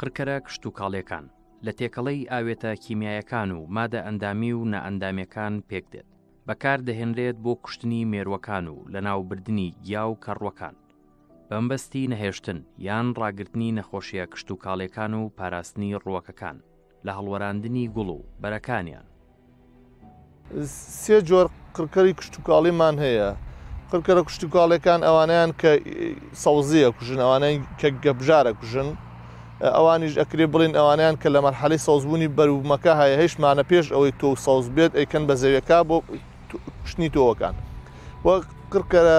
قڕکەرە کشتتوکاڵیەکان لە تێکەڵەی ئاوێتە کیمیایەکان و مادە ئەندامی و نائەندامەکان پێک دێت بەکار دەهێنرێت بۆ کوشتنی مێروەکان و لە ناوبردنی گیا و کەڕوەکان بەمبەستی نەهێشتن یان ڕاگرتنی نەخۆشیە کشتوکاڵیەکان و پاراستنی ڕووەکەکان لە هەڵوەراندنی گوڵ و بەرەکانیان. سێ جۆر قڕکەری کشتوکاڵیمان هەیە قڕکەرە کشتوکاڵیەکان ئەوانیان کە سەوزیە کوژن ئەوانەی کە گەبژارە کوژن ئەوانیش ئەکرێ بڵین ئەوانیان کە لە مەرحەلی سەوزبوونی بەرومەکە هەیە هیچمانە پێش ئەوەی تۆ سەوز بێت ئەیکەن بە زەویەکە بۆ کوشتنی تۆوەکان وە قڕکەرە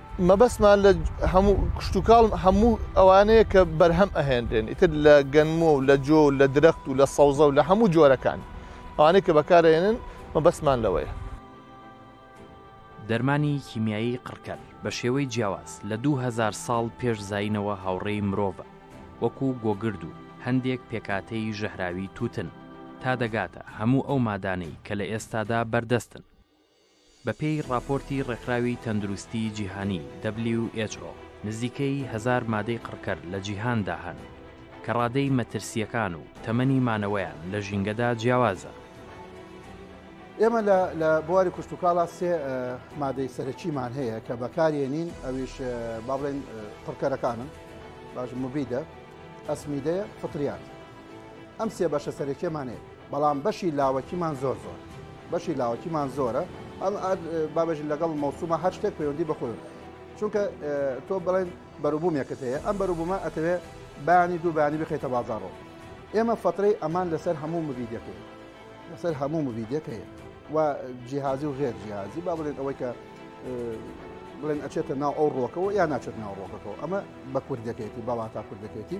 مەبەستمان لە هەموو کشتوکاڵ هەموو ئەوانەیە کە بەرهەم ئەهێنرێن ئیتر لە گەنمۆ و لە جۆ و لە درەخت و لە سەوزە و لە هەموو جۆرەکان ئەوانەی کە بەکارەێنن مەبەستمان لەوەیە. دەرمانی کیمیایی قڕکەر بە شێوەی جیاواز لە دوو هەزار ساڵ پێش زایینەوە هاوڕێی مرۆڤە، وەکو گۆگرد و هەندێک پێکاتەی ژەهراوی تووتن، تا دەگاتە هەموو ئەو مادانەی کە لە ئێستادا بەردەستن. بەپێی ڕاپۆرتی ڕێکخراوی تەندروستی جیهانی، who، نزیکەی هەزار مادەی قڕکەر لە جیهاندا هەن کە ڕادەی مەترسییەکان و تەمەنی مانەوەیان لە ژینگەدا جیاوازە. ئێمە لە بواری کشتوکاڵا سێ مادەی سەرەکیمان هەیە کە بەکارێنین ئەویش با بڵێن قڕکەرەکانن باش مبیدە ئەسمیدەیە فطریات ئەم سێ بەشە سەرەکیەمان هەیە. بەڵام بەشی لاوەکیمان زۆر زۆر بەشی لاوەکیمان زۆرە ئەم بابژین لەگەڵ مەوسومە هەر شتێک پەیوەندی بەخۆی چونکە تۆ بڵێن بەروبوومێکت هەیە ئەم بەروبوومە ئەتەوێ بانی دوو بانی بخیتە بازارەوە ئێمە فترەی ئەمان لەسەر هەموو مبیدەکەی لەسەر هەموو مبیدەکەی و جیهازی و غێر جیهازی با بڵێن ئەوەی کە بڵێن ئەچێتە ناو ئەو ڕۆکەوە یا ناچێت ناو ڕۆکەکەەوە ئەمە بە کوردەکەیەتی بەڵاتا کوردەکەێتی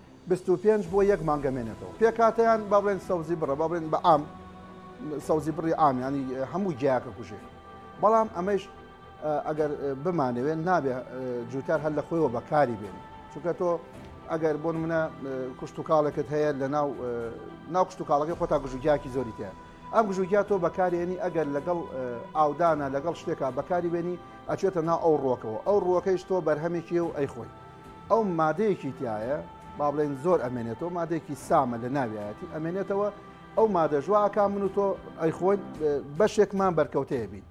بیست و پێنج بۆ یەک مانگە مێنێتەوە پێکهاتەیان با بڵێن سەوزی بڕە با بڵێن بە عام سەوزی بڕی عام ینی هەموو جیاکە کوژێ بەڵام ئەمەش ئەگەر بمانەوێت نابێ جووتار هەر لە خۆیەوە بەکاری بێن چونکە تۆ ئەگەر بۆن منە کوشت و کاڵێکت هەیە لە ناو ناو کوشت و کاڵەکەی خۆتا گژوگیاکی زۆری تێ ئەم گژوگیا تۆ بەکارێنی ئەگەر لەگەڵ ئاودانە لەگەڵ شتێکا بەکاری بێنی ئەچێتە نا ئەو ڕۆکەوە ئەو ڕۆکەیش تۆ بەرهەمێکی و ئەی خۆی ئەو مادەیەکی تایە با بڵێن زۆر ئەمێنێتەوە مادێکی سامە لە ناویایەتی ئەمێنێتەوە ئەو مادە ژواکە من و تۆ ئەیخۆین بەشێکمان بەرکەوتەیە بین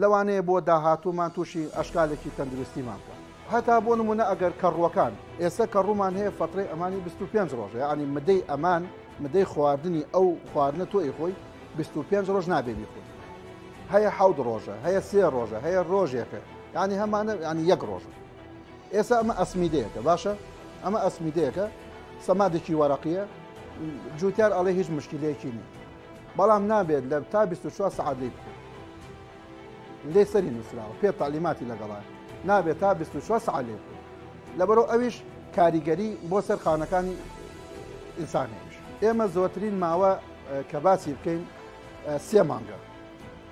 لەوانەیە بۆ داهاتوومان تووشی ئەشکالێکی تەندروستیمان بکە هەتا بۆ نمونە ئەگەر کەڕوەکان ئێستا کە ڕوومان هەیە فترەی ئەمانی 25 ڕۆژە ینی مدەی ئەمان مدەی خواردنی ئەو خواردنە تۆی خۆی 25 ڕۆژ نابێبی خۆی هەیە حەود ڕۆژە هەیە سێ ڕۆژە هەیە ڕۆژێکە ینی هەمانە ینی یەک ڕۆژە ئێسا ئەمە ئەسمیدەیەکە باشە ئەمە ئەسمیدەیەکە سەمادێکی وەرەقیە جوتیار ئەڵێ هیچ مشکلەیەکی نیە بەڵام نابێت لە تا 24 سعات لی بکە لێ سەری نووسراوە پێ تعلیماتی لەگەڵە نابێت تا 24 سعات لێ بکە لەبەرەوە ئەویش کاریگەری بۆ سەر خانەکانی ئینسانێش ئێمە زۆرترین ماوە کە باسی بکەین سێ مانگە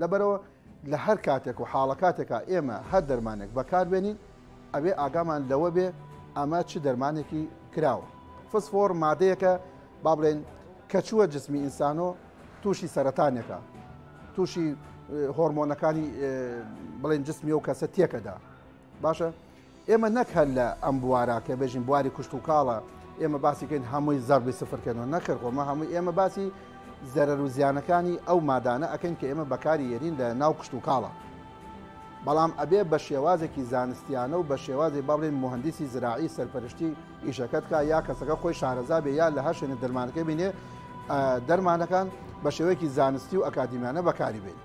لەبەرئەوە لە هەر کاتێک و حاڵەکاتێکا ئێمە هەر دەرمانێک بەکاربێنین ئەبێ ئاگامان لەوە بێ ئەمە چ دەرمانێکی کراوە فسفۆر مادەیەکە با بڵێن کە چووە جسمی ئینسانۆ تووشی سەرەتانێکە تووشی هۆرمۆنەکانی بڵێن جسمی و کەسە تێکەدا باشە ئێمە نەک هەر لە ئەم بوارە کە بێژین بواری کشتوکاڵە ئێمە باسی کەین هەمووی زەڕبی سفر کەنەوە نەخێر خۆ مە هەمووی ئێمە باسی زەرەر و زیانەکانی ئەو مادانە ئەکەین کە ئێمە بەکاری یەرین لە ناو کشتوکاڵە بەڵام ئەبێ بە شێوازێکی زانستیانە و بە شێوازی بەڵێن مهندسی زراعی سەرپەرشتی ئیشەکەت کا یا کەسەکە خۆی شارەزا بێ یا لە هەر شوێنە دەرمانەکە بینێ دەرمانەکان بە شێوەیەکی زانستی و ئەکادیمیانە بەکاری بێنی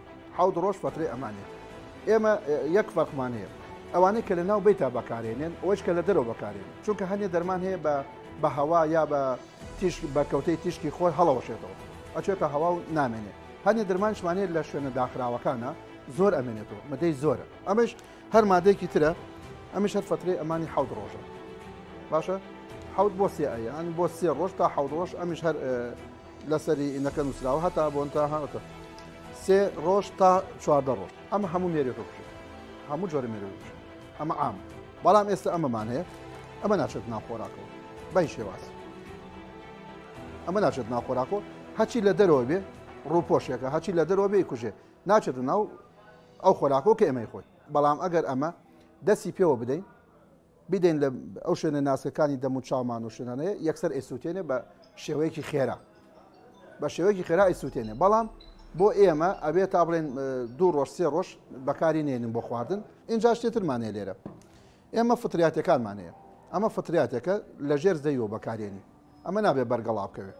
حەوت ڕۆژ فەترەی ئەمانێت ئێمە یەک فەرقمان هەیە ئەوانەی کە لە ناو بیتا بەکارێنێن ئەوەش کە لە دەرەوە بەکارێن چونکە هەنێ دەرمان هەیە بە بە هەوا یا بە تیشک بە کەوتەی تیشکی خۆر هەڵەوەشێتەوە ئەچێتە هەوا و نامێنێت هەنێ درمانشمانێت لە شوێنە داخراوەکانە زۆر ئەمێنێتەوە مەدەی زۆرە ئەمەش هەر مادەیەکی ترە ئەمەش هەر فترەی ئەمانی حەوت ڕۆژە باشە حەوت بۆ سێ ئەیان بۆ سێ ڕۆژ تا حەوت ڕۆژ ئەمیش هەر لەسەری ئینەکە نووسراوە هەتا بۆن تا هاتە سێ ڕۆژ تا چواردە ڕۆژ ئەمە هەموو مێری ڕۆژ هەموو جۆرە مێری ڕۆژ ئەمە عام بەڵام ئێستا ئەمەمان هەیە ئەمە ناچێت ناخۆراکەوە بەی شێواز ئەمە ناچێت ناخۆراکەوە هەچی لە دەرەوە بێ ڕووپۆشێکە هەچی لە دەرەوە بێ کوژێ ناچێت ناو ئەو خۆراکەوە کە ئێمەی خۆی بەڵام ئەگەر ئەمە دەستی پێوە بدەین بیدەین لە ئەو شوێنە ناسکەکانی دەم و چاومان و شوێنانەیە یەکسەر ئەیسووتێنێ بە شێوەیەکی خێرا بە شێوەیەکی خێرا ئەیسووتێنێ بەڵام بۆ ئێمە ئەبێ تا بڵێن دوو ڕۆژ سێ ڕۆژ بەکاری نێنن بۆ خواردن اینجا شتێترمانەیە لێرە ئێمە فتریاتەکانمانەیە ئەمە فتریاتەکە لە ژێر زەیەوە بەکارێنی ئەمە نابێ بەرگەڵا بکەوێت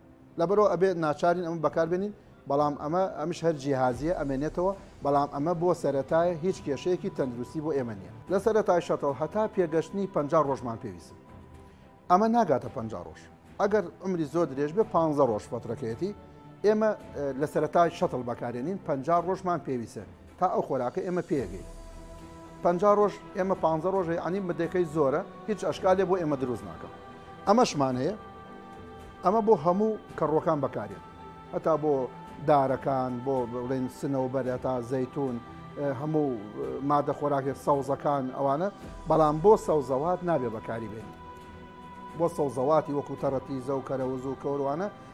لەبەرئەوە ئەبێت ناچارین ئەمە بەکاربێنین بەڵام ئەمە ئەمش هەر جیهازیە ئەمێنێتەوە بەڵام ئەمە بۆ سەرەتایە هیچ کێشەیەکی تەندروستی بۆ ئێمە نیە. لە سەرەتای شەتڵ هەتا پێگەشتنی پەنجا ڕۆژمان پێویستە ئەمە ناگاتە پەنجا ڕۆژ ئەگەر عمری زۆر درێژ بێ پانزە ڕۆژ فەترەکەیەتی ئێمە لە سەرەتای شەتڵ بەکارێنین پەنجا ڕۆژمان پێویستە تا ئەو خۆراکە ئێمە پێگەین پەنجا ڕۆژ ئێمە پانزە ڕۆژ یعنی مدەکەی زۆرە هیچ ئەشکالێ بۆ ئێمە دروست ناکەم ئەمەشمان هەیە ئەمە بۆ هەموو کەڕۆکان بەکارێت هەتا بۆ دارەکان بۆ بڵێن سنەوبەر هەتا زەیتون هەموو مادە خۆراکێک سەوزەکان ئەوانە بەڵام بۆ سەوزەوات نابێ بەکاری بێت بۆ سەوزەواتی وەکو تەڕەتی زەوکەرە وزو کەوروانە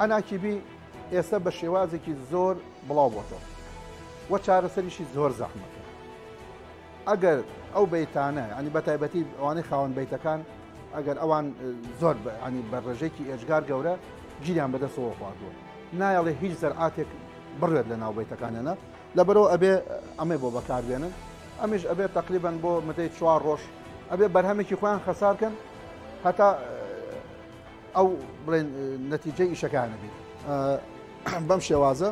ئەناکیبی ئێستا بە شێوازێکی زۆر بڵاو بۆتەوە وە چارەسەریشی زۆر زەحمەکە ئەگەر ئەو بیتانە ینی بە تایبەتی ئەوانەی خاوەن بیتەکان ئەگەر ئەوان زۆر ینی بە ڕێژێکی ئێجگار گەورە گیریان بەدەستەوە خواردووە نایەڵێ هیچ زەرعاتێک بڕێت لە ناوبیتەکانیانە لەبەرەوە ئەبێ ئەمەی بۆ بەکاربێنن ئەمیش ئەبێت تقریبان بۆ مدەی چوار ڕۆژ ئەبێ بەرهەمێکی خۆیان خەسارکەن هەتا ئەو بڵێن نەتیجەی ئیشەکانە بێت بەم شێوازە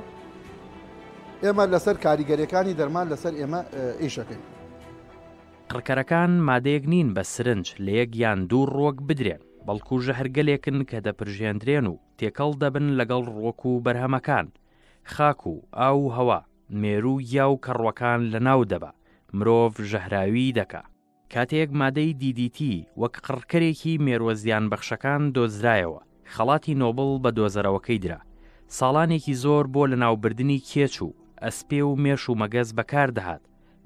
ئێمە لەسەر کاریگەریەکانی دەرمان لەسەر ئێمە ئیشەکەین. قڕکەرەکان مادەیەک نین بە سرنج لە یەک یان دوو ڕۆک بدرێن بەڵکو ژەهرگەلێکن کە دەپرژێندرێن و تێکەڵ دەبن لەگەڵ ڕۆک و بەرهەمەکان خاک و ئاو و هەوا مێرو یا و کەڕوەکان لە ناو دەبا مرۆڤ ژەهراوی دەکا کاتێک مادەی دی دی تی وەک قڕکەرێکی مێرووە زیانبەخشەکان دۆزرایەوە، خەڵاتی نۆبڵ بە دۆزەرەوەکەی درا. ساڵانێکی زۆر بۆ لەناوبردنی کێچ و ئەسپێ و مێش و مەگەز بەکار دەهات،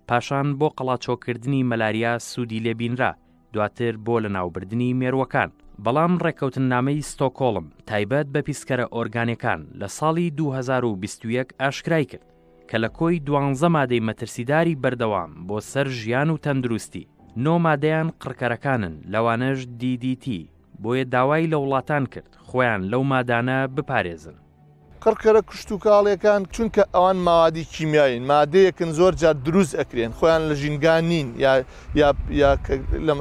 پاشان بۆ قەڵاچۆکردنی مەلاریا سوودی لێ بینرا، دواتر بۆ لەناوبردنی مێرووەکان. بەڵام ڕێککەوتننامەی ستۆکۆڵم تایبەت بە پیسکەرە ئۆرگانیەکان لە ساڵی دوو هەزار و بیست و یەک ئاشکرای کرد، کە لە کۆی دوانزە مادەی مەترسیداری بەردەوام بۆ سەر ژیان و تەندروستی، نۆ مادەیان قڕکەرەکانن لەوانەش دی دی تی، بۆیە داوای لە وڵاتان کرد خۆیان لەو مادانە بپارێزن. قڕکەرە کشتوکاڵیەکان چونکە ئەوان مەوادی کیمیاوین، مادەیەکن زۆر جار دروست ئەکرێن، خۆیان لە ژینگا نین یا یا یا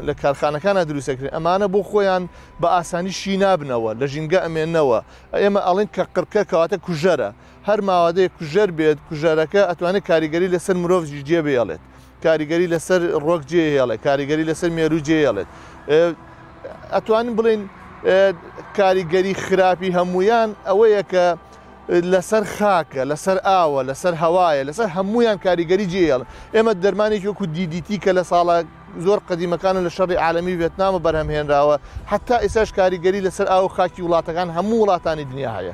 لە کارخانەکانا دروست ئەکرێن، ئەمانە بۆ خۆیان بە ئاسانی شی نابنەوە، لە ژینگە ئەمێنەوە، ئێمە ئەڵێن کە قڕکەر کەواتە کوژەرە، هەر ماوادەیەک کوژەر بێت کوژەرەکە ئەتوانێت کاریگەری لەسەر مرۆڤژی جێ بێڵێت کاریگەری لەسەر ڕۆک جێ هێڵێت کاریگەری لەسەر مێرو جێ هێڵێت ئەتوانین بڵین کاریگەری خراپی هەمویان ئەوەیە کە لەسەر خاکە لەسەر ئاوە لەسەر هەوایە لەسەر هەمویان کاریگەری جێڵ ئێمە دەرمانێکی وەکو دیدیتی کە لە ساڵە زۆر قدیمەکان و لە شەڕی عالمی ڤێتنامە بەرهەمهێنراوە حتا ئێساش کاریگەری لەسەر ئاو خاکی وڵاتەکان هەموو وڵاتانی دنیا هەیە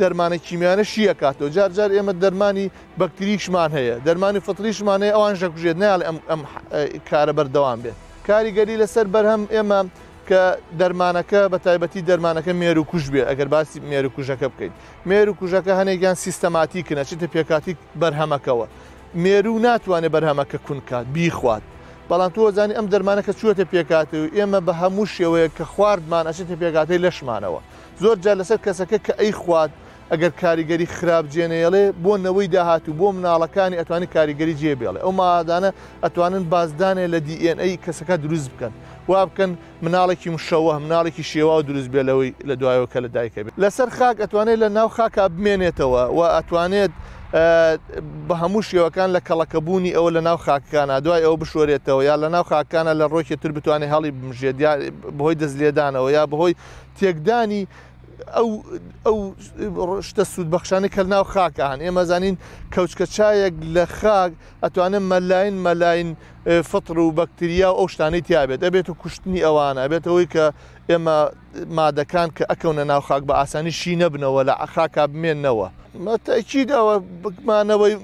دەرمانە کیمیانە شی ئەکاتەوە جار جار ئێمە دەرمانی بەکتریشمان هەیە دەرمانی فطریشمان هەیە ئەوان ژەکوژێت نال ئەم ئەم کارە بەردەوام بێت کاریگەری لەسەر بەرهەم ئێمە کە دەرمانەکە بە تایبەتی دەرمانەکە مێر و کوژ بێ ئەگەر باسی مێر و کوژەکە بکەین مێر و کوژەکە هەنێکیان سیستەماتی کنە چتە پێکاتی بەرهەمەکەەوە مێرو ناتوانێت بەرهەمەکە کونکات بیخوات بەڵام تۆزانانی ئەم دەرمانەکە چوەتە پێکاتەوە ئێمە بە هەموو شێوەیە کە خواردمان ئەچێتە پێکاتی لەشمانەوە زۆر جار لەسەر کەسەکە کە ئەیخوات ئەگەر کاریگەری خراپ جێنەیەڵێ بۆ نەوەی داهاتوو بۆ مناڵەکانی ئەتوانی کاریگەری جێ بێڵێ ئەو مادانە ئەتوانن بازدانێ لە DNA ئەی کەسەکە دروست بکەن وا بکەن مناڵێکی مشەوە مناڵێکی شێواو دروست بێ لەوەی لە دوایەوە کە لە دایکە بێت لەسەر خاک ئەتوانێت لە ناو خاکا بمێنێتەوە و ئەتوانێت بە هەموو شێوەکان لە کەڵەکەبوونی ئەوە لە ناو خاکانە دوای ئەو بشۆرێتەوە یا لە ناو خاکانە لە ڕۆکێ تر بتوانێت هەڵی بمژێت بەهۆی دەست لێدانەوە یا بەهۆی تێکدانی ئەو ئەو شتە سوود بەخشانە کە ناو خاکە هەن ئێمە زانین کەوچکە چایەک لە خاک ئەتوانم مەلاین مەلاین فطر و بەکتریا و ئەو شتانەی تیاابێت ئەبێت و کوشتنی ئەوانە بێتەوەی کە ئێمە مادەکان کە ئەکەونە ناو خاک بە ئاسانی شی نەبنەوە لە عخاکا بمێنەوە مەتەکیدەوە بکمانەوەی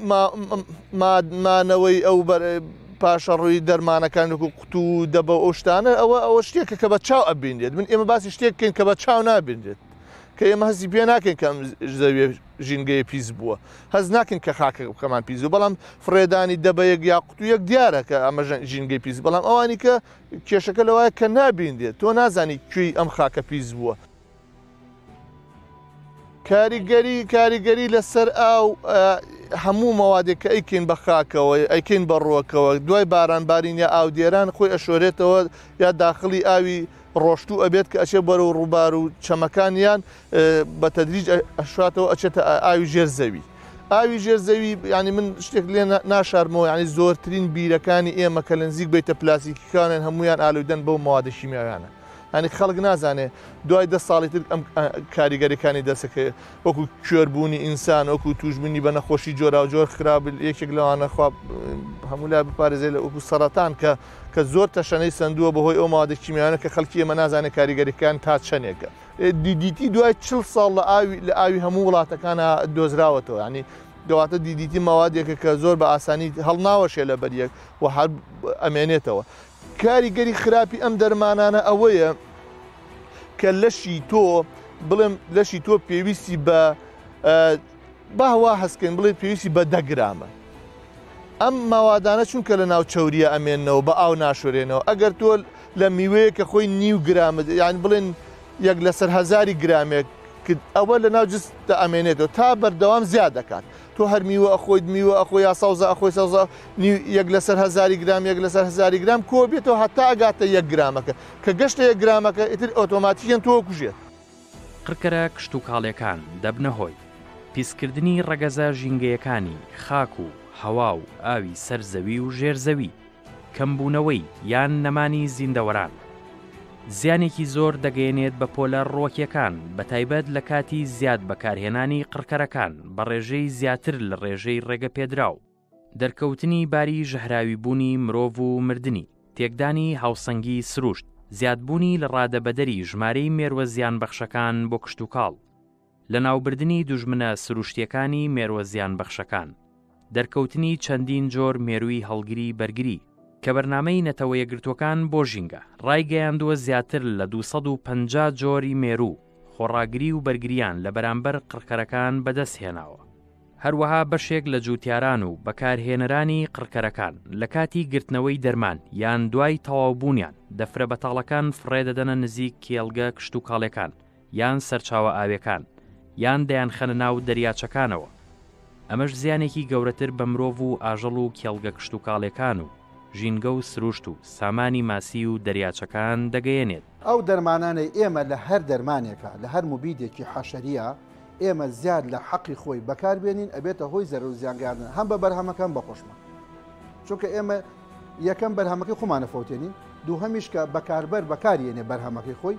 مانەوەی ئەو بەرە پاشە ڕووی دەرمانەکان لەکو قوت و دەبە و ئەو شتانە ئەوە ئەوە شتێکە کە بە چاو ئەبینرێت من ئێمە باسی شتێک بکەین کە بە چاو نابینرێت کە ئێمە هەستی پێ ناکەین کە ئەم زەویە ژینگەیە پیس بووە هەز ناکەین کە خاکە بکەمان پیس و بەڵام فڕێدانی دەبەیەک یا قوتویەک دیارە کە ئەمە ژینگەی پیس بەڵام ئەوانی کە کێشەکە لەوایە کە نابینرێت تۆ نازانی کوێی ئەم خاکە پیس بووە کاریگەری کاریگەری لەسەر ئاو هەموو مەوادێک کە ئەیکەین بە خاکەوە ئەیکەین بە ڕۆکەوە دوای باران بارین یا ئاودێران خۆی ئەشۆرێتەوە یا داخلی ئاوی ڕۆشتوو ئەبێت کە ئەچێ بەرە و ڕووبار و چەمەکانیان بە تەدریج ئەشاتەوە ئەچێتە ئاوی ژێر زەوی. ئاوی ژێر زەوی ینی من شتێک لێ ناشارمەوە ینی زۆرترین بیرەکانی ئێمە کە لە نزیک بیتە پلاسیکیکانێن هەمویان ئالودەن بەو مادەشیمیانە. یانی خەڵک نازانێ دوای دە ساڵی تر ئەم کاریگەریەکانی دەسەکە وەکو کوێربوونی ئینسان وەکو توژبنی بە نەخۆشی جۆرا و جۆر خراپل یەکێک لەوانە خواب هەمولا بپارێزێ لە وەکو سەرەتان کە کە زۆر تەشەنەی سندووە بەهۆی ئەو مادە کیمیانە کە خەڵکی ئێمە نازانێت کاریگەریەکان تا چەندێکە دیدیتی دوای چل ساڵ لە ئاوی لە ئاوی هەموو وڵاتەکانە دۆزراوەتەوە ینی دواتە دیدیتی ماوادێکە کە زۆر بە ئاسانی هەڵناوەشێ لە بەریەک و هەر ئەمێنێتەوە کاریگەری خراپی ئەم دەرمانانە ئەوەیە کە لەشی تۆ بڵێم لەشی تۆ پێویستی بە باوا هەستکەین بڵێ پێویستی بە دەگرامە ئەم ماوادانە چونکە لە ناو چوریە ئەمێنەوە بە ئاو ناشورێنەوە ئەگەر تۆ لە میوەیە کە خۆی نیو گرامت یان بڵێن یەک لەسەر هزاری گرامێک ئەوە لە ناو جست ئەمێنێتەوە تا بەردەوام زیاد دەکات تۆ هەر میوە ئەخۆیت میوە ئەخۆی یا سەوزە ئەخۆی سەوزە نیو یەک لەسەر هەزاری گرام یەک لەسەر هەزاری گرام کۆ بێتەوە هەتا ئەگاتە یەک گرامەکە کە گەشتە یەک گرامەکە ئیتر ئۆتۆماتیکیان تۆ کوژێت. قڕکەرە کشتوکاڵیەکان دەبنە هۆی پیسکردنی ڕەگەزە ژینگەیەکانی خاک و هەوا و ئاوی سەر زەوی و ژێر زەوی. کەمبوونەوەی یان نەمانی زیندەوەران زیانێکی زۆر دەگەیەنێت بە پۆلە ڕووەکیەکان بە تایبەت لە کاتی زیاد بەکارهێنانی قڕکەرەکان بە ڕێژەی زیاتر لە ڕێژەی ڕێگە پێدراو دەرکەوتنی باری ژەهراوی بوونی مرۆڤ و مردنی تێکدانی هاوسەنگی سروشت زیادبوونی لە ڕادەبەدەری ژمارەی مێروە زیان بەخشەکان بۆ کشتوکاڵ. لەناوبردنی دوژمنە سروشتیەکانی مێروە زیان بەخشەکان. دەرکەوتنی چەندین جۆر مێروی هەڵگری بەرگری. کە بەرنامەی نەتەوە یەکگرتوەکان بۆ ژینگە ڕایگەیاندوە زیاتر لە دوو سەد و پەنجا جۆری مێروو خۆڕاگری و بەرگریان لە بەرامبەر قڕکەرەکان بەدەست هێناوە. هەروەها بەشێک لە جوتیاران و بەکارهێنەرانی قڕکەرەکان لە کاتی گرتنەوەی دەرمان یان دوای تەواو بونیان دەفرە بەتاڵەکان فڕێدەدەنە نزیک کێڵگە کشتوکاڵێکان، یان سەرچاوە ئاوێکان، یان دەیانخەنە ناو دەریاچەکانەوە. ئەمەش زیانێکی گەورەتر بە مرۆڤ و ئاژەڵ و کێڵگە کشتوکاڵێکان و ژینگە و سروشت و سامانی ماسی و دەریاچەکان دەگەیەنێت. ئەو دەرمانانەی ئێمە لە هەر دەرمانێکە، لە هەر موبیدێکی حەشەرییە ئێمە زیاد لە حەقی خۆی بەکار بێنین ئەبێتە هۆی زەرەر و زیان گەیاندن هەم بە بەرهەمەکە هەم بە خۆشمان. چونکە ئێمە یەکەم بەرهەمەکەی خۆمان ئەفەوتێنین، دووهەمیش کە بەکاربەر بەکاریێنێ بەرهەمەکەی خۆی،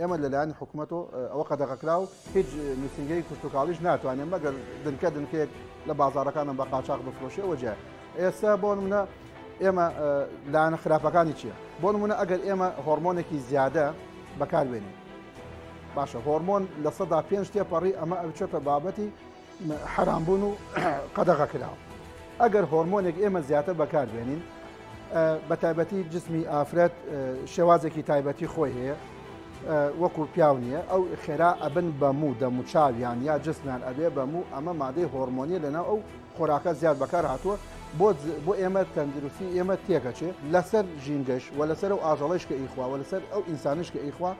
ئێمە لەلایەن حکوومەت و ئەوە قەدەغەکراو هیچ نووسنگەی کشتتوکاڵیش ناتوانێت مەگەر دنکە دنکێک لە بازارەکانم بە قاچاق بفرۆشێ وەجێ ئێستا بۆ منە ئێمە لایەنە خراپەکانی چییە بۆ منە ئەگەر ئێمە هۆرمۆنێکی زیادە بەکاربێنین باشە هۆرمۆن لە سەدا پێنج تێپەڕی ئەمە ئەوچێتە بابەتی حەرام بوون و قەدەغە کراون ئەگەر هۆرمۆنێک ئێمە زیاتر بەکاربێنین بە تایبەتی جسمی ئافرەت شێوازێکی تایبەتی خۆی هەیە وەکو پیاو نییە ئەو خێرا ئەبن بە موو دەموچاویان یا جسمیان ئەبێ بە موو ئەمە مادەی هۆرمۆنیە لەناو ئەو خۆراکە زیاد بەکار هاتووە بۆ بۆ ئێمە تەندروستی ئێمە تێکەچێت لەسەر ژینگەش و لەسەر و ئاژەڵش کە ئیخوا و لەسەر ئەو ئینسانش کە ئیخوا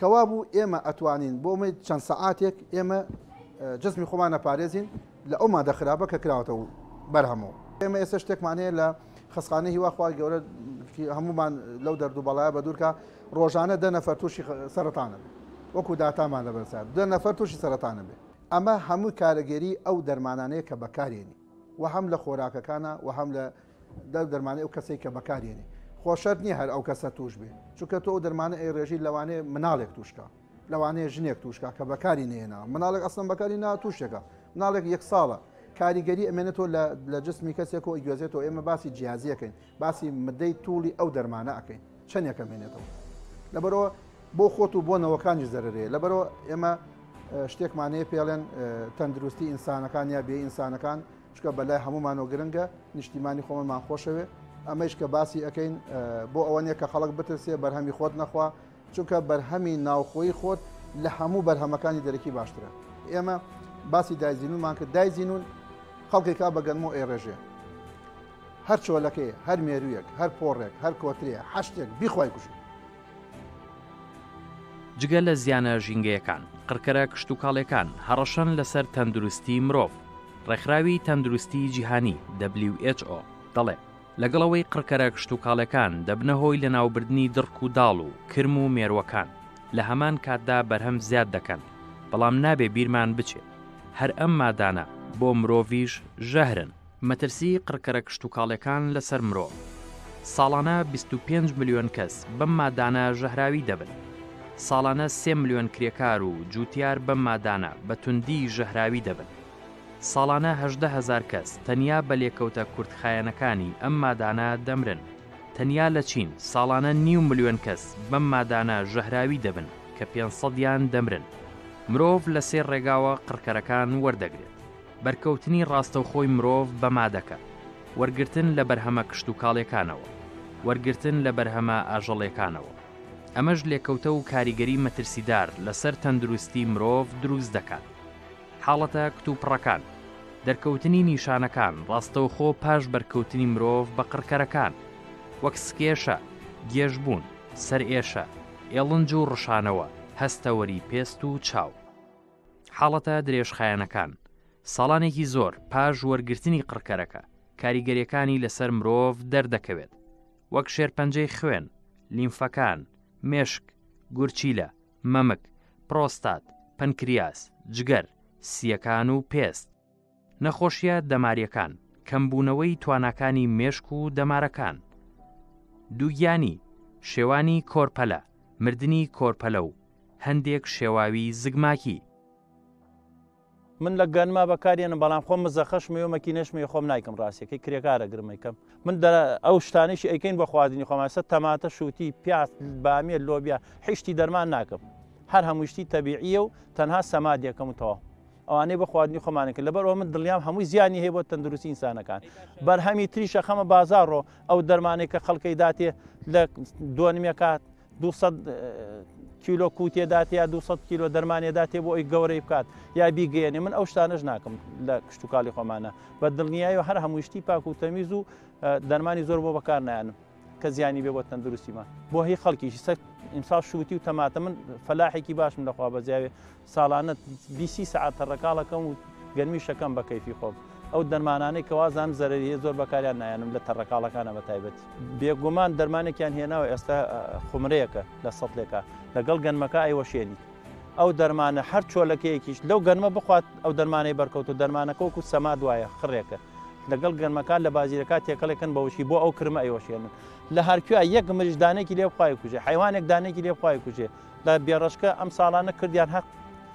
کەوابوو ئێمە ئەتوانین بۆ مەی چەند سەعاتێک ئێمە جسمی خۆمان نەپارێزین لە ئەو مادە خراپە کە کراوەتەوە بەرهەمەوە ئێمە ئێستا شتێکمان هەیە لە خەسخانە هیواخوا گەورە هەمومان لەو دەردو بەڵایە بە دوورکە ڕۆژانە دە نەفەر تووشی سەرتانە وەکو داتامان لە بەرسا دە نەفەر تووشی سەرتانە بێ ئەمە هەموو کارەگەری ئەو دەرمانانەیە کە بەکارێنی و هەم لە خۆراکەکانە و هەم لە دەر دەرمانی ئەو کەسەی کە بەکاریێنی خۆشەر نییە هەر ئەو کەسە توش بێ چونکە تۆ ئەو دەرمانە ئەی ڕێژی لەوانێ مناڵێک توشکە لەوانەیە ژنێک توشکە کە بەکاری نێنا مناڵێک ئەسم بەکاری نا توشێکە مناڵێک یەک ساڵە کاریگەری ئەمێنێتەوە لە جسمی کەسێک و گوێزێتەوە ئێمە باسی جیازیەکەین باسی مدەی توڵی ئەو دەرمانە ئەەکەین چەندێکە مێنێتەوە لەبەرەوە بۆ خۆت و بۆ نەوەکانی زەرێ لەبەرەوە ئێمە شتێکمانەیە پێڵێن تەندروستی ئینسانەکان یا بێ ئینسانەکان چونکە بەلای هەموومانەوە گرنگە نیشتیمانی خۆمەمان خۆشەوێ ئەمەش کە باسی ئەەکەین بۆ ئەوە نیە کە خەڵک بترسێ بەرهەمی خۆت نەخوا چونکە بەرهەمی ناوخۆی خۆت لە هەموو بەرهەمەکانی دەرەکی باشترە ئێمە باسی دایزینومان کرد دایزینون خەڵکێکا بەگەنم و ئێڕێژێ هەر چۆلەکەی هەر مێرویەک هەر پۆڕێک هەر کۆترێ هەشتێک بیخوای کوژێ جگە لە زیانە ژینگەیەکان، قڕکەرە کشتوکاڵیەکان هەڕەشەن لەسەر تەندروستی مرۆڤ. ڕێکخراوی تەندروستی جیهانی، who، دەڵێت، لەگەڵ ئەوەی قڕکەرە کشتوکاڵیەکان دەبنە هۆی لەناوبردنی دڕک و داڵ و کرم و مێرووەکان، لە هەمان کاتدا بەرهەم زیاد دەکەن، بەڵام نابێ بیرمان بچێت هەر ئەم مادانە بۆ مرۆڤیش ژەهرن. مەترسی قڕکەرە کشتوکاڵیەکان لەسەر مرۆڤ، ساڵانە بیست و پێنج ملیۆن کەس بەم مادانە ژەهراوی دەبن، ساڵانە سێ ملیۆن کرێکار و جووتیار بەم مادانە بە توندی ژەهراوی دەبن، ساڵانە هەژدە هەزار کەس تەنیا بە لێکەوتە کورتخایەنەکانی ئەم مادانە دەمرن، تەنیا لە چین ساڵانە نیو ملیۆن کەس بەم مادانە ژەهراوی دەبن کە پێنج سەدیان دەمرن، مرۆڤ لە سێ ڕێگاوە قڕکەرەکان وەردەگرێت. بەرکەوتنی ڕاستەوخۆی مرۆڤ بە مادەکە، وەرگرتن لە بەرهەمە کشتوکاڵیەکانەوە، وەرگرتن لە بەرهەمە ئاژەڵێکانەوە. ئەمەش لێکەوتە و کاریگەری مەترسیدار لە سەر تەندروستی مرۆڤ دروست دەکات. حاڵەتە کتوپڕەکان، دەرکەوتنی نیشانەکان ڕاستەوخۆ پاش بەرکەوتنی مرۆڤ بە قڕکەرەکان، وەک سکێشە، گێژبوون، سەرئێشە، ئێڵنج و ڕشانەوە، هەستەوەری پێست و چاو. حاڵەتە درێژخایەنەکان، ساڵانێکی زۆر پاش وەرگرتنی قڕکەرەکە، کاریگەریەکانی لەسەر مرۆڤ دەردەکەوێت، وەک شێرپەنجەی خوێن، لیمفەکان، مێشک، گورچیلە، مەمک، پرۆستات، پەنکریاس، جگەر، سییەکان و پێست. نەخۆشیە دەماریەکان، کەمبوونەوەی تواناکانی مێشک و دەمارەکان. دووگیانی، شێوانی کۆرپەلە، مردنی کۆرپەلە و هەندێک شێواوی زگماکی. من لە گەنمە بەکاریەنم بەڵام خۆم مزەخەش مەوێ مەکینەش مەوێ خۆم نایکەم ڕاستیەکەی کرێکارە گرم ئەیکەم من دە ئەو شتانیشی ئەیکەین بۆ خواردنی خۆمان سە تەماتە شووتی پیاز بامیە لۆبیا حیشتی دەرمان ناکەم هەر هەمووشتی تەبیعیە و تەنها سەمادیەکەم و تەواو ئەوانەی بۆ خواردنی خۆمانن کرد لەبەر ئەوە من دڵنیام هەمووی زیانی هەیە بۆ تەندروستی ئینسانەکان بەرهەمی تری شەخەمە بازاڕۆ ئەو دەرمانێک کە خەڵکەی داتێ لە دۆنمێکات 200 کیلۆ کووتێدات یا 200 کیلۆ دەرمانێداتێ بۆ ئەوی گەورەی بکات یا بیگەێنێ من ئەو شتانەش ناکەم لە کشتتوکالی خۆمانە بە دڵنیایەوە هەر هەمووشتی پاک و تەمیز و دەرمانی زۆر بۆ بەکار نایانم کە زیانی بێ بۆ تەندروستیمان بۆ هی خەڵکیشی سەر ئیمسا شووتی و تەماتە من فەلاحێکی باشم لەخوا بەزیاوێ ساڵانە بیست سی سەعات تەڕەکاڵ ئەکەم و گەرمیش ئەکەم بە کەیفی خۆم. ئەو دەرمانانەی کە وازانم زەرەری هەیە زۆر بەکاریان نایەنم لە تەڕەکاڵەکانا بە تایبەتی. بێگومان دەرمانێکیان هێناوە ئێستا خومرەیەکە لە سەتلێکا لەگەڵ گەنمەکە ئەیوەشێنیت ئەو دەرمانە هەر چۆلەکەیەکیش لەو گەنمە بخوات ئەو دەرمانەی بەرکەوتوو دەرمانەکە وەکوو سەماد وایە خڕێکە لەگەڵ گەنمەکە لە بازیرەکە تێکەڵێکن بە وشکی بۆ ئەو کرمە ئەیوەشێنن لە هەرکوێ یەک مریش دانێکی لێ بخوا ئەیکوژێ حەیوانێک دانێکی لێ بخوا ئەیکوژێ بە بێڕەشکە ئەم ساڵانە کردیان هەق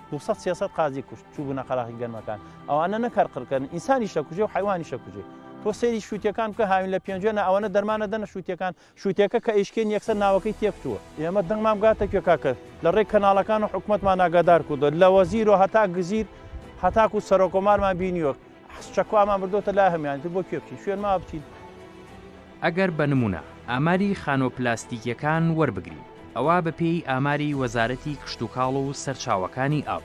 دوو سەد سێ سەد قازی کوشت چووبوونە قەراخی گەرمەکان ئەوانە نەک هەر قڕکەن ئینسانیش دەکوژێ و حەیوانیش دەکوژێ تۆ سەیری شووتیەکان بکە هاوین لە پێنجوێنە ئەوانە دەرمانە دەنە شووتیەکان شووتێکە کە ئیشکێن یەکسەر ناوەکەی تێکچووە ئێمە دەنگمان بگاتە کوێ کاکە لە ڕێی کەناڵەکان و حکومەتمان ئاگادار کردووە لە وەزیر و هەتا گزیر هەتاکو سەرۆکۆمارمان بینیوە حەسن چەکۆ ئامان بردۆتە لا هەمویانی تر بۆ کوێ بچین شوێن ماوە بچین. ئەگەر بە نمونە ئاماری خانوە پلاستیکیەکان وەربگرین ئەوا بە پێی ئاماری وەزارەتی کشتوکاڵ و سەرچاوەکانی ئاو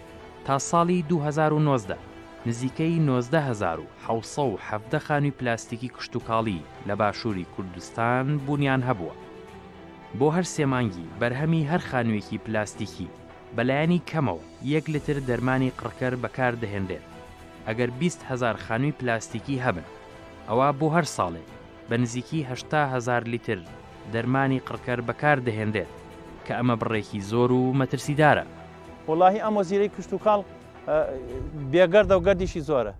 تا ساڵی دوو هەزار و نۆزدە نزیکەی نۆزدە هەزار و حەوت سەد و حەڤدە خانوی پلاستیکی کشتوکاڵی لە باشوری کوردستان بونیان هەبوە بۆ هەر سێ مانگی بەرهەمی هەر خانویەکی پلاستیکی بەلایەنی کەمەوە یەک لتر دەرمانی قڕکەر بەکاردەهێنرێت، ئەگەر بیست هەزار خانووی پلاستیکی هەبن، ئەوا بۆ هەر ساڵێک بە نزیکی هەشتا هەزار لیتر دەرمانی قڕکەر بەکاردەهێنرێت، کە ئەمە بڕێکی زۆر و مەترسیدارە. وەڵاهی ئەم وەزیرەی کشتوکاڵ بێگەردە و گەردیشی زۆرە.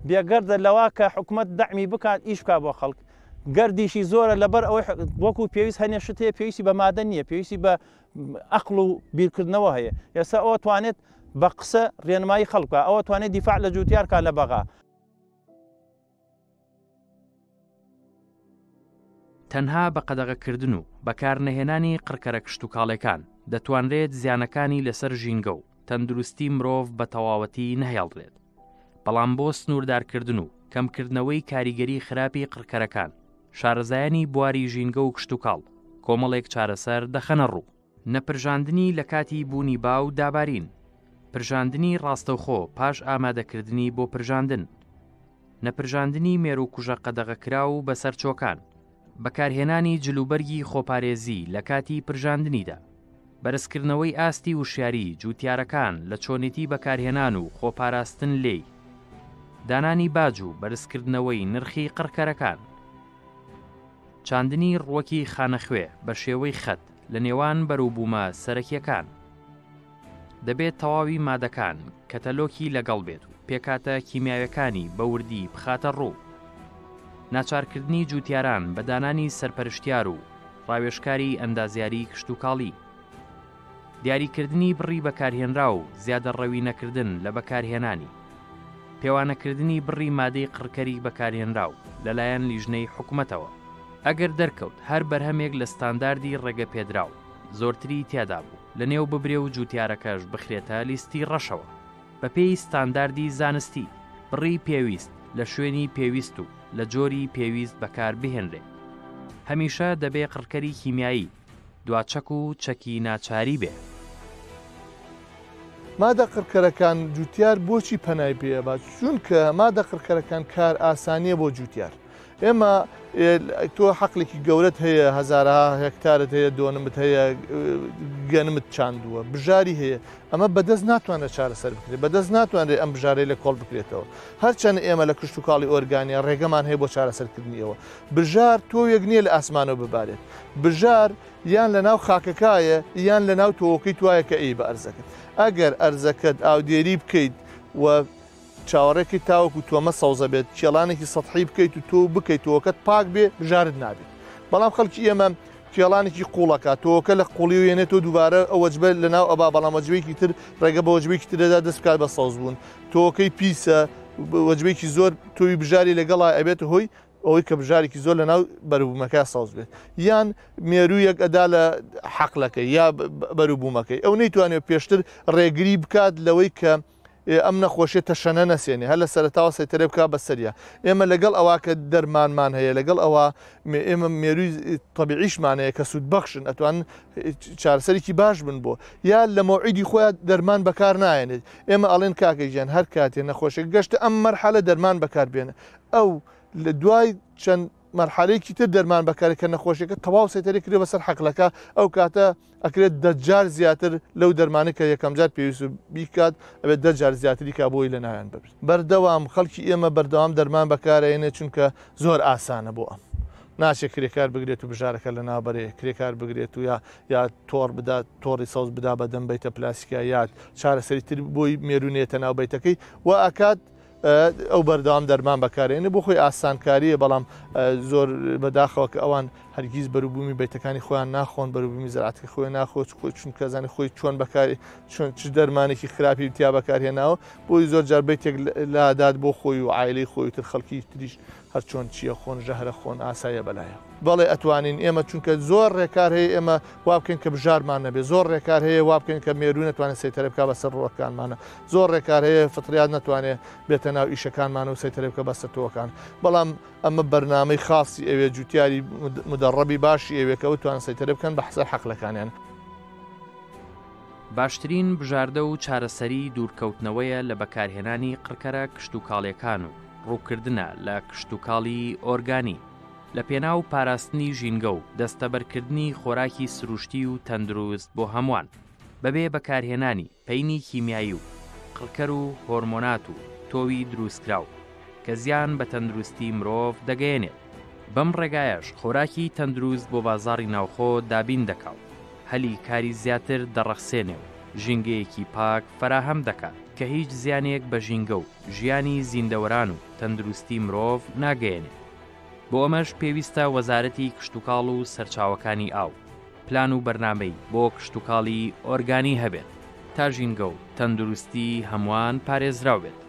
بێگەردە لەوە کە حکومەت دەعمی بکات ئیش بکات بۆ خەڵک. گەردیشی زۆرە لەبەر ئەوەی وەکو پێویست هەنێ شت هەیە پێویستی بە مادە نییە، پێویستی بە ئەقڵ و بیرکردنەوە هەیە ئێستا ئەو توانێت بە قسە ڕێنمایی خەڵکە ئەوە توانێت دیفاع لە جوتیارکە لە بەغا. تەنها بە قەدەغەکردن و بەکارنەهێنانی قڕکەرە کشتتوکاڵەکان دەتوانرێت زیانەکانی لەسەر ژینگە و تەندروستی مرۆڤ بە تەواوەتی نەهێڵرێت بەڵام بۆ سنووردارکردن و کەمکردنەوەی کاریگەری خراپی قڕکەرەکان شارەزایانی بواری ژینگە و کشتتوکاڵ کۆمەڵێک چارەسەر دەخەنە ڕوو نەپرژاندنی لە کاتی بوونی با و دابارین پرژاندنی ڕاستەوخۆ پاش ئامادەکردنی بۆ پرژاندن نەپرژاندنی مێروکوژە قەدەغەکراو و بەسەرچۆکان بەکارهێنانی جلوبەرگی خۆپارێزی لە کاتی پرژاندنیدا، بەرزکردنەوەی ئاستی وشیاری جووتیارەکان لە چۆنیتی بەکارهێنان و خۆپاراستن لێی، دانانی باج و بەرزکردنەوەی نرخی قڕکەرەکان، چاندنی ڕووەکی خانەخوێ بە شێوەی خەت لە نێوان بەروبوومە سەرەکییەکان. دەبێت تەواوی مادەکان کەتەلۆکی لەگەڵ بێت و پێکاتە کیمیاوەکانی بەوردی بخاتە ڕوو ناچارکردنی جوتیاران بە دانانی سەرپەرشتیار و ڕاوێشکاری ئەندازیاری کشتتوکاڵی دیاریکردنی بڕی بەکارهێنرا و زیادە ڕەوی نەکردن لە بەکارهێنانی پێوانەکردنی بڕی مادەی قڕکەری بەکارهێنرا و لەلایەن لیژنەی حکوومەتەوە ئەگەر دەرکەوت هەر بەرهەمێک لە ستانداردی ڕێگە پێدراو زۆرتری تیادا بوو لەنێو ببرێ و جووتیارەکەش بخرێتە لیستی ڕەشەوە بە پێی ستانداردی زانستی، بڕی پێویست، لە شوێنی پێویست و لە جۆری پێویست بەکار بهێنرێ. هەمیشە دەبێ قڕکەری کیمیایی دواچەک و چەکی ناچاری بێ. مادە قڕکەرەکان جووتیار بۆچی پەنای پێ ئەبا؟ چونکە مادە قڕکەرەکان کارئاسانییە بۆ جووتیار. ئێمە تۆ حەقلێکی گەورەت هەیە هەزارها هێکتارت هەیە دۆنمت هەیە گەنمت چاندووە بژاری هەیە ئەمە بەدەست ناتوانێت چارەسەر بکرێت بەدەست ناتوانرێت ئەم بژارەی لە کۆڵ بکرێتەوە هەرچەند ئێمە لە کشت و کاڵی ئۆرگانیا ڕێگەمان هەیە بۆ چارەسەرکردنیەوە بژار تۆیەک نییە لە ئاسمانەوە ببارێت بژار یان لە ناو خاکەکایە یان لە ناو تۆوەکەی توایە کە ئەی بە ئەرزەکەت ئەگەر ئەرزەکەت ئاودێری بکەیت و چاوەڕێکەی تاوەکو تۆمە سەوزە بێت کێڵانێکی سەتحی بکەیت و تۆ بکەیت تۆکەت پاک بێ بژارت نابێت بەڵام خەڵکی ئێمە کێڵانێکی قوڵەکە تۆکە لە قوڵی و یێنێت تۆ دووبارە ئەوەجبە لە ناو ئەبا بەڵام وەجبێکی تر ڕێگە بە وەجبێکی ترەدا دەستکات بە سەوز بوون تۆکەی پیسە وەجبێکی زۆر تۆوی بژاری لەگەڵا ئەبێت هۆی ئەوەی کە بژارێکی زۆر لە ناو بەروبوومەکە سەوز بێت یان مێروویەک ئەدا لە حەقلەکەی یا بەروبوومەکەی ئەو نەیتوانێت پێشتر ڕێگری بکات لەوەی کە ئێ ئەم نەخۆشیە تەشەنە نەسێنێ هەر لە سەرەتاوە سەیتەرەی بکا بە سەریا ئێمە لەگەڵ ئەوا کە دەرمانمان هەیە لەگەڵ ئەوا ئێمە مێروی تەبیعیشمان هەیە کە سوود بەخشن ئەتوان چارسەرێکی باش بن بۆ یا لە مەوعیدی خۆیان دەرمان بەکار نایەنێت ئێمە ئەڵێن کاکە گیان هەر کاتێ نەخۆشێک گەشتە ئەم مەرحەلە دەرمان بەکاربێنە ئەو لە دوای چەند مەرحەلەیەکی تر دەرمان بەکەرە کە نەخۆشیەکە تەواو سەیتەرەی کردوە بەسەر حەقلەکە ئەو کاتە ئەکرێت دە جار زیاتر لەو دەرمانە کە یەکەم جار پێویست بیکات ئەبێت دە جار زیاتری کا بۆی لە ناویان ببرێت بەردەوام خەڵکی ئێمە بەردەوام دەرمان بەکارەێنێ چونکە زۆر ئاسانە بۆ ئەم ناچێت کرێکار بگرێت و بژارەکە لە نابەرێ کرێکار بگرێت و یا یا تۆڕ بدات تۆڕی سەوز بدا بە دەم بیتە پلاسیکایات چارەسەری تر بۆی مێرونێتە ناوبیتەکەی و ئاکات ئەو بەردەوام دەرمان بەکارێنێ بۆ خۆی ئاسانکاریە بەڵام زۆر بەداخەوە کە ئەوان هەرگیز بەروبوومی بەیتەکانی خۆیان ناخۆن بەروبوومی زراتی خۆی ناخۆچ خۆی چون کەزانانی خۆی چۆن بەکاری چۆن چ دەرمانێکی خراپی تیا بەکارهێناوە بۆی زۆر جار بەیتێک لادات بۆ خۆی و عیلی خۆی تر خەڵکی تریش هەر چۆن چیە خۆن ژەهرە خۆن ئاسایە بەلایە. بەڵێ ئەتوانین ئێمە چونکە زۆر ڕێکار هەیە ئێمە وابکەین کە بژارمان نەبێت زۆر ڕێکار هەیە وابکەین کە مێروو نەتوانێت سەیتەرە بکات بەسەر ڕووەکانمانە زۆر ڕێکار هەیە فطریات نەتوانێت بێتە ناو ئیشەکانمان و سەیتەرە بکە بە ستووەکان بەڵام ئەمە بەرنامەی خاصی ئەوێ جوتیاری مدەڕەبی باشی ئەوێ کە بتوان سەیتەرە بکەن بە حسە حەقلەکانیان. باشترین بژاردە و چارەسەری دوورکەوتنەوەیە لە بەکارهێنانی قڕکەرە کشتوکاڵیەکان و ڕووکردنە لە کشتوکاڵی ئۆرگانی لە پێناو پاراستنی ژینگە و دەستەبەرکردنی خۆراکی سروشتی و تەندروست بۆ هەمووان بەبێ بەکارهێنانی پەینی کیمیایی و قڕکەر و هۆرمۆنات و تۆوی دروستکراو کە زیان بە تەندروستی مرۆڤ دەگەیەنێت بەم ڕێگایەش خۆراکی تەندروست بۆ بازاڕی ناوخۆ دابین دەکا و هەلی کاری زیاتر دەڕەخسێنێ و ژینگەیەکی پاک فەراهەم دەکات کە هیچ زیانێک بە ژینگە و ژیانی زیندەوەران و تەندروستی مرۆڤ ناگەیەنێت. بۆ ئەمەش پێویستە وەزارەتی کشتوکاڵ و سەرچاوەکانی ئاو پلان و بەرنامەی بۆ کشتوکاڵی ئۆرگانی هەبێت تا ژینگە و تەندروستی هەمووان پارێزراو بێت.